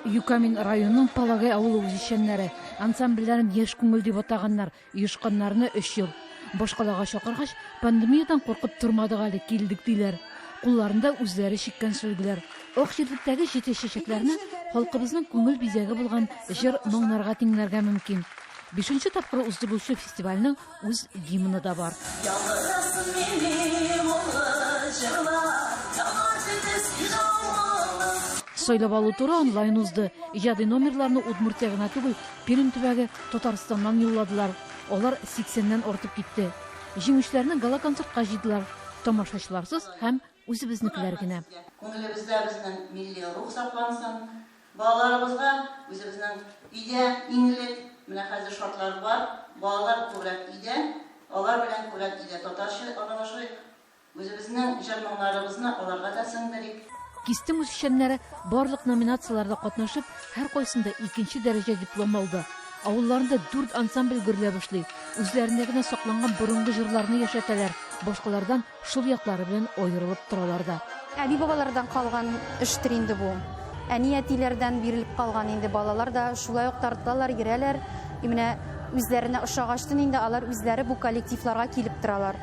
Юкамин районының Палагай авылы үзешчәннәре, ансамбльләрен яшь күңел дип атаганнар, оешканнарына өч ел. Башкалага чакыргач, пандемиядән куркып тормадык әле, килдек, диләр. Кулларында үзләре чиккән сөлгеләр. Ак җирдектәге җитез чәчәкләрне халкыбызның күңел бизәге булган җыр-моңнарга тиңләргә мөмкин. Бишенче тапкыр уздырылучы фестивальнең үз гимны да бар. Сайлап алу туры онлайн узды. Иҗади номерларны Удмуртия гына түгел, Пермь төбәге, Татарстаннан юлладылар. Алар 80 артып китте. Җиңүчеләрне гала-концертка җыйдылар. Тамашачыларсыз һәм Үзебезнекеләр генә. Күңелебездә безнең милли рух саклансын. Балаларыбызга үзебезнең өйдә иң элек, менә хәзер шартлар бар, балалар күбрәк өйдә, алар белән күбрәк өйдә татарча аралашыйк, үзебезнең җыр-моңнарыбызны аларга да сеңдерик. Кистем үзешчәннәре барлык номинацияләрдә катнашып, һәркайсында икенче дәрәҗә диплом алды. Авылларында дүрт ансамбль гөрләп эшли, үзләрендә генә сакланган борынгы җырларны яшәтәләр, башкалардан Шул яклары белән аерылып торалар да. Әби-бабалардан калган эштер инде бу. Әни-әтиләрдән бирелеп калган инде. Балалар да шулай ук тартылалар, йөрәләр. И менә үзләренә ошагачтын инде алар үзләре бу коллективларга килеп торалар.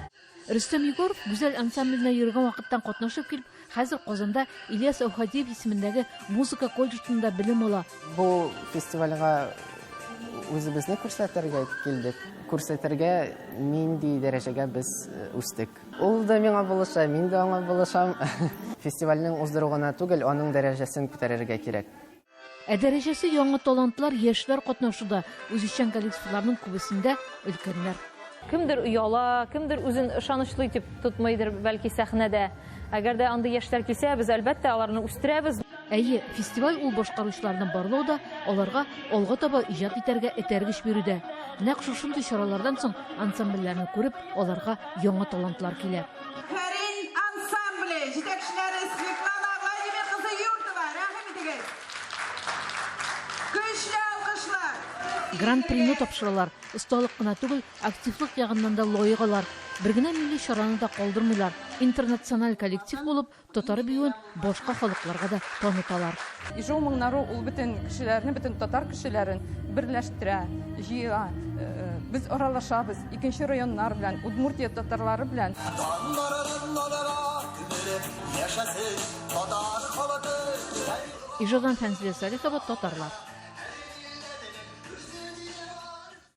Рөстәм Егоров Гүзәл ансамбленә йөргән вакыттан катнашып килеп, Хәзер Казанда Ильяс Әүхәдиев исемендәге музыка колледжында белем ала. Бу фестивальгә үзебезне күрсәтергә килдек. Күрсәтергә нинди дәрәҗәгә без э, үстек. Ул да миңа булыша, мин дә аңа булышам. Фестивальнең уздыруына түгел, аның дәрәҗәсен күтәрергә кирәк. Ә дәрәҗәсе яңа талантлар, яшьләр катнашуда, үзешчән коллективларның күбесендә өлкәннәр. Кемдер ояла, кемдер үзен ышанычлы итеп тотмыйдыр, бәлки, сәхнәдә. Әгәр дә андый яшьләр килсә, без, әлбәттә, аларны үстерәбез. Әйе, фестиваль ул башкаручыларны барлау да, аларга алга таба иҗат итәргә этәргеч бирү дә. Нәкъ шушындый чаралардан соң ансамбльләрне күреп, аларга яңа талантлар килә. Хәрин ансамбле җитәкчеләре Светлана Владимир кызы Юртова, рәхим итегез! Көчле алкышлар! Гран-прины тапшыралар, осталык кына түгел, активлык ягыннан да лаек алар. Бер генә милли чараны да калдырмыйлар, интернациональ коллектив булып, Татар биюен башка халыкларга да таныталар. Ижу моңнары ул бөтен кешеләрне, бөтен татар кешеләрен берләштерә, җыя. Э, э, без аралашабыз икенче районнар белән, Удмуртия татарлары белән. Ижодан Фәнзилә Салихова, татарлар.